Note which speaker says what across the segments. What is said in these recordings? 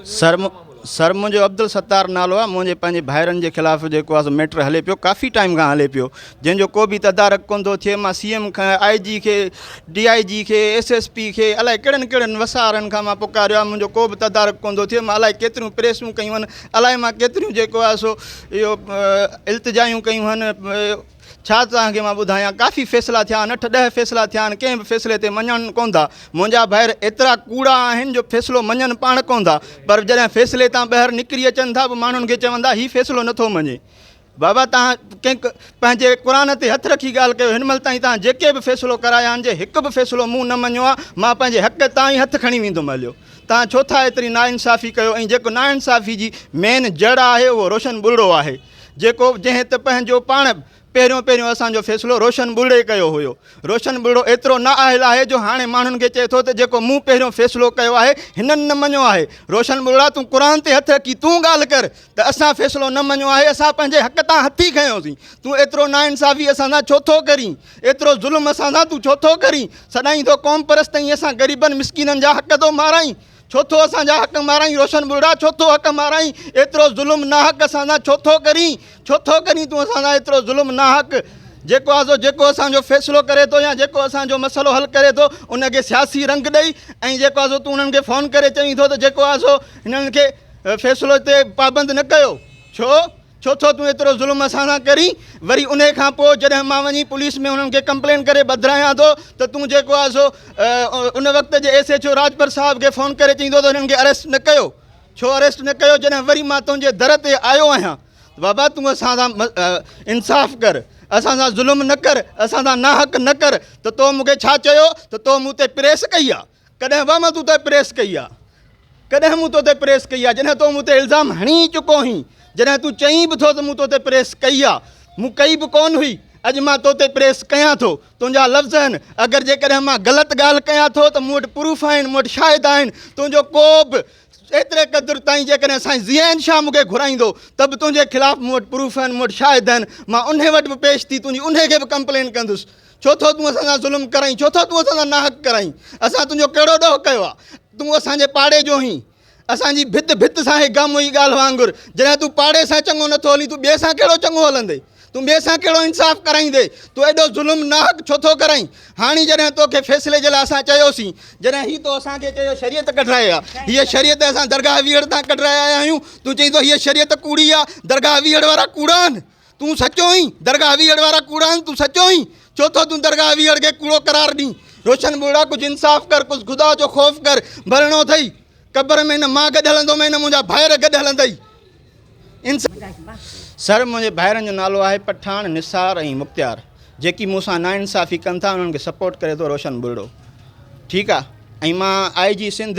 Speaker 1: سر sir منهنجو عبدالستار نالو آهي منهنجي پنهنجي ڀائرن جي خلاف جيڪو آهي ميٽر هلي پيو ڪافي ٽائيم کان هلي پيو جنهن جو ڪو بي تدارڪ ڪون ٿو ٿئي مان سي ايم کان آئي جي کي ڊي آئي جي کي ايس ايس پي کي الائي ڪهڙن ڪهڙن وسارن کان مان پڪاريو آهي منهنجو ڪو به تدارڪ ڪون ٿو ٿئي مان الائي ڪيتريون پريسون ڪيون آهن الائي مان ڪيتريون جيڪو آهي سو اهو التجايون ڪيون آهن ڇا توهان کي مان ٻڌايان ڪافي فيصلا ٿيا آهن اٺ ڏهه فيصلا ٿيا آهن ڪنهن به فيصلي تي مڃن ڪونه ٿا منهنجا ڀائر ايترا ڪوڙا آهن جو فيصلو مڃن پاڻ ڪونه ٿا پر جڏهن فيصلي تان ٻاهر نڪري اچن ٿا پوء ماڻهن کي چون ٿا هي فيصلو نٿو مڃي بابا تان ڪنهن پنهنجي قرآن تي هٿ رکي ڳالهه ڪيو هن مهل تائين تان جيڪي به فيصلو ڪرايا آهن جي هڪ به فيصلو مون نه مڃيو آهي مان پنهنجي حق تان ئي هٿ کڻي ويندم هليو تان ڇو ٿا ايتري ناانصافي ڪيو ۽ جيڪو ناانصافي جي مين جڙ آهي اهو روشن ٻلڙو آهي جيڪو جنهن ته پنهنجو پاڻ به پهريون پهريون اسان جو فيصلو روشن ٻرڙي ڪيو هيو. روشن ٻرڙو ايترو نا اهل آهي جو هاڻي ماڻهن کي چئي ٿو ته جيڪو مون پهريون فيصلو ڪيو آهي هنن نه مڃيو آهي. روشن ٻرڙا تون قرآن تي هٿ رکي تون ڳالهه ڪر ته اسان فيصلو نه مڃيو آهي اسان پنهنجي حق تان هٿي کنيوسين تون ايترو نا انصافي اسان سان ڇو ٿو ڪرين ايترو ظلم اسان سان تون ڇو ٿو ڪرين سڏائين ٿو قوم پرست ۽ اسان غريبن مسڪينن جا حق ٿو مارائين ڇو ٿو اسان جا حق مارائين روشن ٻرڙا ڇو ٿو حق مارائين ايترو ظلم ناحق اسان سان ڇو ٿو ڪرين ڇو ٿو ڪرين تون اسان سان ايترو ظلم ناحق جيڪو آزو جيڪو اسان جو فيصلو ڪري ٿو يا جيڪو اسان جو مسئلو حل ڪري ٿو ان کي سياسي رنگ ڏئي ۽ جيڪو آزو تون انهن کي فون ڪري چوين ٿو ته جيڪو آزو هنن کي فيصلو تي پابند نه ڪيو ڇو ڇو ٿو تون ايترو ظلم اسان سان ڪرين وري انهي کان پوء جڏهن مان وڃي پوليس ۾ انهن کي ڪمپلين ڪري بدرايان ٿو ته تون جيڪو آهي سو ان وقت جي ايس ايڇ او راڄپر صاحب کي فون ڪري چئين ٿو ته هنن کي اريسٽ نه ڪيو ڇو اريسٽ نه ڪيو جڏهن وري مان تنهنجي در تي آيو آهيان بابا تون اسان سان انصاف ڪر اسان سان ظلم نه ڪر اسان سان ناحق نه ڪر ته تو مون کي ڇا چيو ته تو مون تي پريس ڪئي آهي ڪڏهن به مان تو تي پريس ڪئي آ ڪڏهن مون تو تي پريس ڪئي آ جڏهن تو مون تي الزام هڻي ئي چڪو هئين جڏهن تون چئين به ٿو ته مون تو تي پريس ڪئي آ مون ڪئي به ڪون هئي اڄ مان تو تي پريس ڪيان ٿو تنهنجا لفظ آهن اگر جيڪڏهن مان غلط ڳالهه ڪيان ٿو ته مون وٽ پروف آهن مون وٽ شاهد آهن تنهنجو ڪو به ايتري قدر تائين جيڪڏهن سائين ضياء شاهه مون کي گهرائيندو ته به تنهنجي خلاف مون وٽ پروف آهن مون وٽ شاهد آهن مان انهي وٽ به پيش ٿي تنهنجي انهي کي به ڪمپلين ڪندس ڇو ٿو تون اسان سان ظلم ڪرائين ڇو ٿو تون اسان سان ناحق ڪرائين اسان تنهنجو ڪهڙو ڏوهه ڪيو آهي تون اسان جي پاڙي جو آهين اسان جي ڀت ڀت سان هي گم هئي ڳالهه وانگر جڏهن تون پاڙي سان چڱو نٿو هلين تون ٻئي سان ڪهڙو چڱو هلندي تون ٻئي سان ڪهڙو انصاف ڪرائيندي تون ايڏو ظلم ناحق ڇو ٿو ڪرائين هاڻي جڏهن توکي فيصلي جي لاء اسان چيوسين جڏهن هي تو اسان کي چيو شريعت ڪڍرائي آهي هيء شريعت اسان درگاهه ويهڙ تان ڪڍرائي آيا آهيون تون چئين ٿو هيء شريعت ڪوڙي آهي درگاهه ويهڙ وارا ڪوڙا آهن تون سچو آهين درگاهه ويهڙ وارا ڪوڙا آهن تون سچو آهين ڇو ٿو تون درگاهه ويهڙ کي ڪوڙو قرار ڏين روشن ٻوڙا ڪجهه انصاف ڪر ڪجهه خدا جو خوف ڪر مرڻو اٿئي قبر ۾ نه مان گڏ هلندوم نه منهنجا ڀائر گڏ هلندئي سر منهنجي ڀائرن جو نالو آهي پٺاڻ نثار ۽ مختيار جيڪي مون سان نا انصافي ڪن ٿا انهن کي سپورٽ ڪري ٿو روشن بلڙو ٺيڪ آهي ۽ مان I G Sindh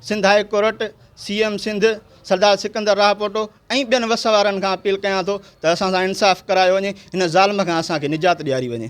Speaker 1: Sindh high court C M Sindh Sardar Sikandar Rahpoto ۽ ٻين وس وارن کان اپيل ڪيان ٿو ته اسان سان انصاف ڪرايو وڃي هن ظالم کان اسان کي نجات ڏياري وڃي.